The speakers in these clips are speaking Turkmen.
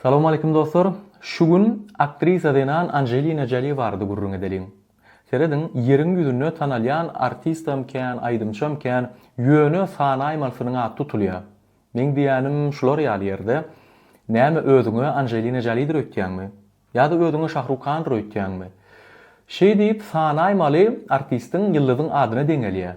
Salam aleýkum dostlar. Şu gün aktrisa zenan Anjelina Joli barada gürrüň edeliň. Serediň, ýeriň ýüzünde tanalýan artistam kän, aýdymçam kän, ýöne sanaýmalysynyň ady tutulýar. Meň diýýänim şular ýaly ýerde. Näme özüňe Anjelina Jolidir öýtýäňmi? Ýa-da özüňe Şahruk Khandyr öýtýäňmi? Şeýdip sanaýmaly artistiň, ýyldyzyň adyna deňelýär.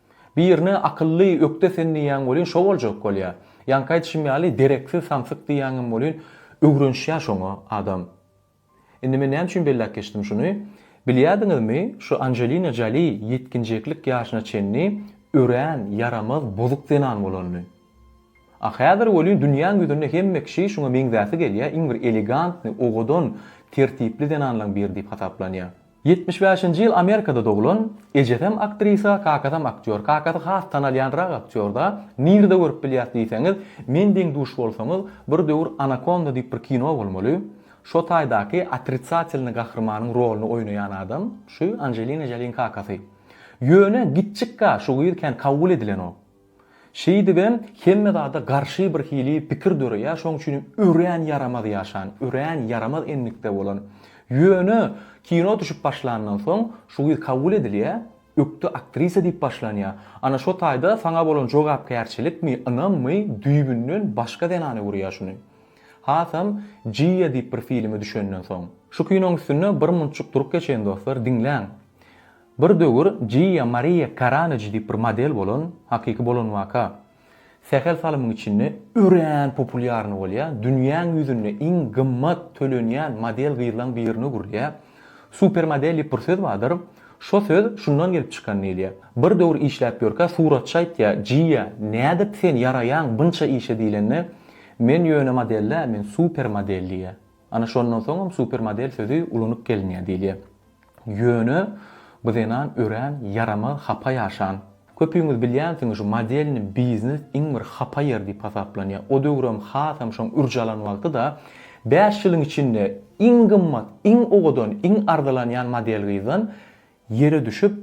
Birine akylly ökde sen diýýäň welin şo boljak bolýa. Ýaňky aýdyşym ýaly dereksiz samsyk diýýäňem welin öwrenişýä şoňa adam. Indi men näme üçin belläp geçdim şuny? Bilýädiňizmi şu Anjelina Joli ýetginjeklik ýaşyna çenli örän ýaramaz bozuk zenan bolanyny. A häzir welin dünýäň ýüzünde hemme kişi şuňa meňzäsi gelýä iň bir elegantny owadan tertipli zenanlaň biri diýip hasaplanýa. Ýetmiş bäşinji ýyl Amerikada doglan, ejesem aktrisa, kakasam aktýor. Kakasy has tanalýanrak aktýor-da, nirde görüp bilýäs diýseňiz, men deň duş bolsaňyz, bir döwür Anakonda diýip bir kino bolmaly, şo taýdaky otritsatelnyý gahrymanyň rolyny oýnaýan adam, şu Anjelina Joliň kakasy. Ýöne, gitjik-ka, şu gyz kän kabul edilenok. Şeýdibem hemme zada garşy bir hili pikir döreýär, şoň üçinem örän ýaramaz ýaşan, örän ýaramaz endikde bolan. Ýöne kino düşüp başlandan soň şu gyz kabul edilýär, ökde aktrisa diýip başlanýar. Ana şo taýda saňa bolan jogapkärçilikmi, ynammy, düýbünden başga zenana görýär şuny. Hasam Jiýa diýip bir filme düşenden soň. Şu kinoň üstünde bir munçuk durup geçeýin dostlar, diňläň. Bir döwür Jiýa Mariýa Karanaj diýip bir model bolan, hakyky bolan waka, sähel salymyň içinde örän populýarny bolýar, dünýäň ýüzünde iň gymmat tölenýän model gyzlaň birine öwrülýär. Supermodel diýip bir söz bardyr. Şo söz şundan gelip çykan diýilýär. Bir döwür işläp ýörkä suratçy aýtýar, Jiýa, nädip sen ýaraýaň bynça işe diýlende, Men ýöne model däl, men supermodel diýýär. Ana şondan soňam supermodel sözi ulunyp gelinýär diýilýär. Ýöne bu zenan örän ýaramaz hapa ýaşan. Köpüňiz bilýänsiňiz şu modelni biznes iň bir hapa ýer diýip hasaplanýar. O döwürem hasam şoň ürç alan wagty-da bäş ýylyň içinde iň gymmat, iň owadan, iň arzylanýan model gyzdan ýere düşüp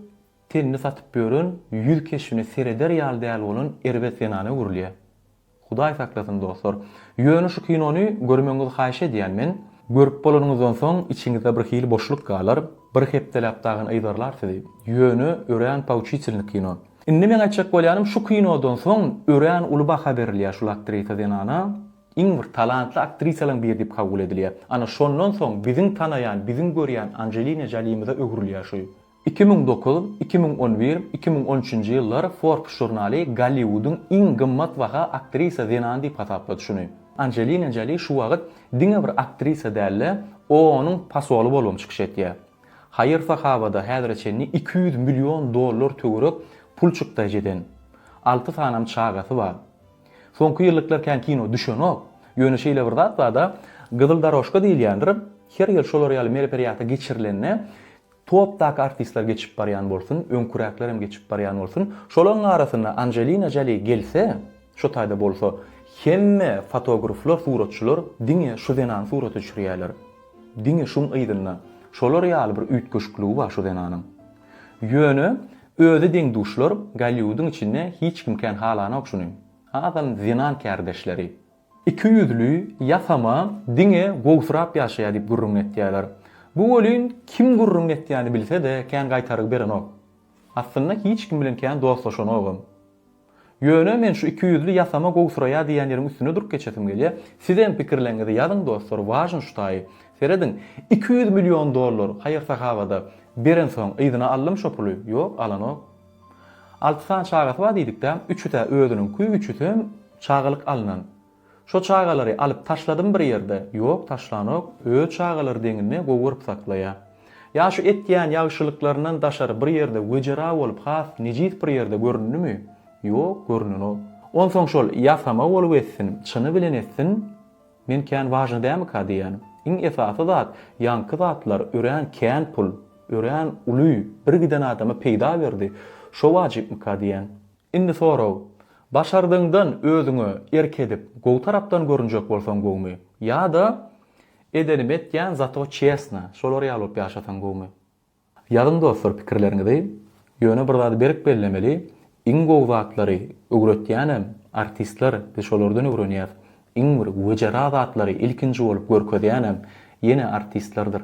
tenini satyp ýören ýüz keşbine sereder ýaly däl bolan erbet zenana öwrülýär. Hudaý saklasyn dostlar. Ýöne şu kinony görmegiňizi haýyş edýän men. Görüp bolanyňyzdan soň içiňizde bir hili boşluk galar, bir hepdeläp dagyn yzarlar sizi. Ýöne örän pouçitilny kino. Indi meň aýtjak bolýanym şu kinodan soň örän uly baha berilýär şul aktrisa zenana. Iň bir talantly aktrisalaň biri diýip kabul edilýär. Ana şondan soň biziň tanaýan, biziň görýän Anjelina Jolimize öwrülýär şu Iki müň dokuz, iki müň on bir, iki müň on üçünji ýyllar Forbes žurnaly Golliwudyň iň gymmat baha aktrisa zenany diýip hasaplady şuny. Anjelina Joli şu wagt diňe bir aktrisa däl-de, OON-yň posoly bolubam çykyş etýär. Haýyr-sahawada häzire çenli iki ýüz million dollar töwerek pul çykdaýjy eden. Alty sanam çagasy bar. Soňky ýyllyklar kän kino düşenok. Ýöne şeýle bir zat bar-da, Gyzyl darožka diýilýändir. Her ýyl şolar ýaly mereperiýata geçirilende, Topdaky artistler geçip barýan bolsun, öňküräklerem geçip barýan bolsun, şolaryň arasynda Anjelina Joli gelse, şo taýda bolsa, hemme fotogrflar, suratçylar diňe şu zenany surata düşürýärler. Diňe şuň yzynda. Şolar ýaly bir üýtgeşikligi bar şu zenanyň. Ýöne özi deň-duşlar Golliwudyň içinde hiç kim kän halanok şuny. Azam zenan kärdeşleri. Iki ýüzli, ýasama, diňe gowusyrap ýaşaýar diýip gürrüň etýärler. Bu welin kim gürrüň etýäni bilse-de kän gaýtaryk berenok. Aslynda hiç kim bilen kän dostlaşanogam. Ýöne men şu iki ýüzli, ýasama, gowusyraýar diýýän ýeriň üstünde durup geçesim gelýär. Sizem pikirleriňizi ýazyň dostlar, wažn ştaý. Serediň, iki ýüz million dollar haýyr-sahawada berensoň yzyna aldym şo puly? Ýok, alanok. Alty sany çagasy bar diýdikdä, üçü-tä özüniňki, üçüsem çagalyk alnan. Şo çagalary alyp taşladymy bir ýerde? Ýok, taşlanok. Öz çagalary deňinde gowy görüp saklaýa. Ýa şu etýän ýagşylyklaryndan daşary bir ýerde wejera bolup has nejis bir ýerde göründimi? Ýok, görnenok. Onsoň şol ýasama bolup etsin, çyny bilen etsin, Men kän wažny dämika diýýän. Iň esasy zat, ýaňky zatlar örän kän pul, örän uly, bir giden adama peýda berdi. Şo wajypmyka diýýän. Indi sorag, başardygyňdan özüňe erk edip, gowy tarapdan görünjek bolsaň gowumy? Ýa-da, edenimi etýän, zato çestno, şolar ýaly bolup ýaşasaň gowumy? Ýazyň dostlar pikirleriňizi, ýöne bir zady berk bellemeli, iň gowy zatlary öwretýänem artistler, biz şolardan öwrenýäs, iň bir wejera zatlary ilkinji bolup görkezýänem ýene artistlerdir.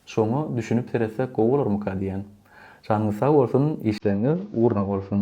Şoňa düşünip seretsek gowy bolarmyka diýýän. Janyňyz sag bolsun, işleriňiz ugruna bolsun.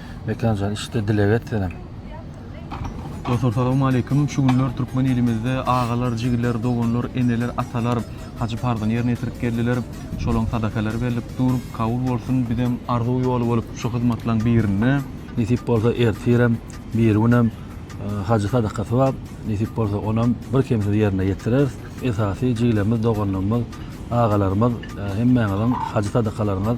Mekanjan işde dileg et senem. Dostlar salawmaleýkim. Şu günler türkmen ilimizde agalar, jigiler, doganlar, eneler, atalar hajy parzyny ýerine ýetirip geldiler. Şolaň sadakalary berlip dur. Kabul bolsun. Bizem arzuw ýoly bolup şu hyzmatlaň birinde. Nesip bolsa ertirem, birigünem hajy sadakasy bar. Nesip bolsa onam birkemsiz ýerine ýetireris. Esasy jigilerimiz, doganlarymyz, agalarymyz hemmäňiziň hajy sadakalaryňyz